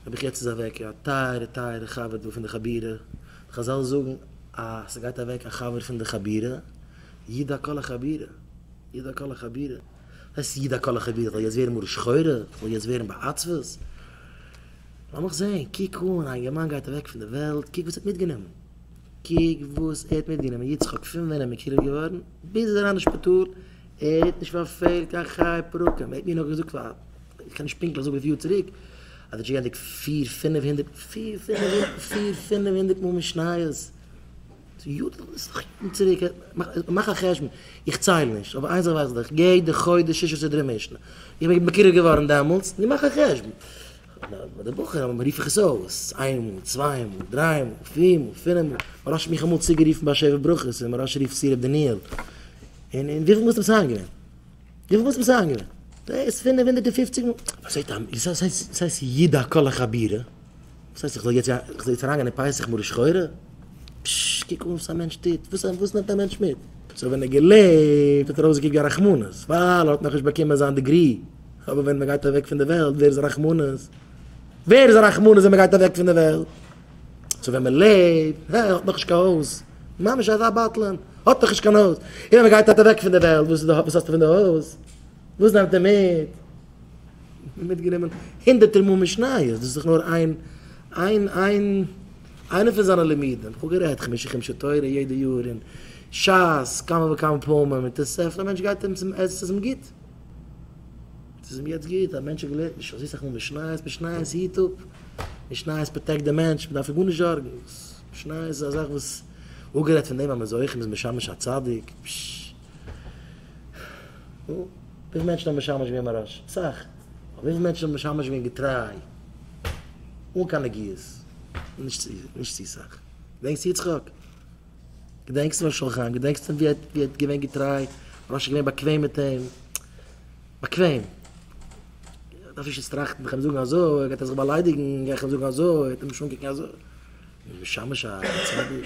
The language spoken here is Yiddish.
האב איך יעצט איז אוועק א טייערע טייערע חבר דא פון די חבירה, די חזל זאגן אז ס'גייט אוועק א חבר פון די חבירה, ידע כל החבירה, ידע כל החבירה, וואס הייסט ידע כל החבירה, זאל יעצט ווערן מרה שחורה, זאל יעצט ווערן בעצבות, לאמיך זעהן, קוק אן, א אינגערמאן גייט אוועק פון די וועלט, קוק וואס ער האט מיטגענומען, קוק וואס ער האט מיטגענומען, יצחק פון ווען ער מקורב געווארן ביז ער איז אריין אין שפיטאל, ער האט נישט פארפעלט קיין חיי פרקים, ער האט מיר נאך געזאגט פאר. איך קען נישט פונקטליך זאגן וויפיל יאר צוריק, אדער ג'גענדיגט פיר פינף הונדערט, פיר פינף, פיר פינף הונדערט מאל משניות, ס'יאר ד, ס'איז דאך יארן צוריק, מאך א חשבון, איך צייל נישט, אבער איין זאך ווייס איך, יעדע חודש שישה סדרי משנה, איך בין מקורב געווארן דעמאלטס, נו מאך א חשבון, ביי די בחורים רוף איך עס אויס, איין מאל, צוויי מאל, דריי מאל, פיר מאל, פינף מאל, מרש האט מיך אמאל צוגערופן ביי שבע ברכות, און מרש רופט צו ר' דניאל, און וויפיל מאל איז דעם סיי געווען? וויפיל וואלסט מסיים געווען? דאס פֿינף הונדערט און פֿופֿציק מאל? וואס הייסט א מ ש? וואס הייסט ידע כל החבירה? וואס הייסט איך זאל יעצט איך זאל יעצט אריינגיין אין פסח מרה שחורה? פששש קוק אן וואס א מענטש טוט, וואס וואס נעמט א מענטש מיט? סאו ווען ער געלעבט האט ער אויסגעקוקט ווי א רחמנות ווייל ער האט נאכנישט באקומען זיין דעגרי, אבער ווען מען גייט אוועק פון די וועלט ווער איז א רחמנות? ווער איז א רחמנות ווען מען גייט אוועק פון די וועלט? צו ווען מען לעבט, הע, ער האט נאכנישט קיין הויז, ממש אזא בטלן, האט נאכנישט קיין הויז, און ווען מען גייט אט אוועק פון די וועלט, וואס איז די, וואס האסטו פון די הויז? וואס נעמט ער מיט? מיטגענומען הונדערטער מאל משניות, דאס איז דאך נאר איין, איין, איין, איינע פון זיינע לימודים, איך האב גערעדט חמשה חומשי תורה יעדע יאר, און שס כמה וכמה פעמים, און תוספות, א מענטש גייט ארום צום עס איז אים גוט. ס'איז אים יעצט גוט, א מענטש האט געלערנט נישט אזוי סאך מאל משניות, משניות היט אפ, משניות פראטעקט די מענטש, מען דארף זיך גארנישט זארגן, משניות איז א זאך וואס, אפגערעדט פון דעם אז מען איז אויך מ'איז משמש א צדיק, פשש, נו, וויפיל מענטשן האבן משמש געווען מוהראש? אסאך, אבער וויפיל מענטשן האבן משמש געווען געטריי, אן קיין נגיעות? נישט צו סאך, דענקסט יצחק? געדענקסט ר' משולם חיים? געדענקסט אים ווי ער האט געווען געטריי? ר' אשר איז געווען באקוועם מיט אים? באקוועם? דארף איך עס טראכטן? וועל איך אים זאגן אזוי? גייט ער זיך באליידיגן? גיי איך אים זאגן אזוי? וועט ער מיך אנקוקן אזוי? משמש א צדיק?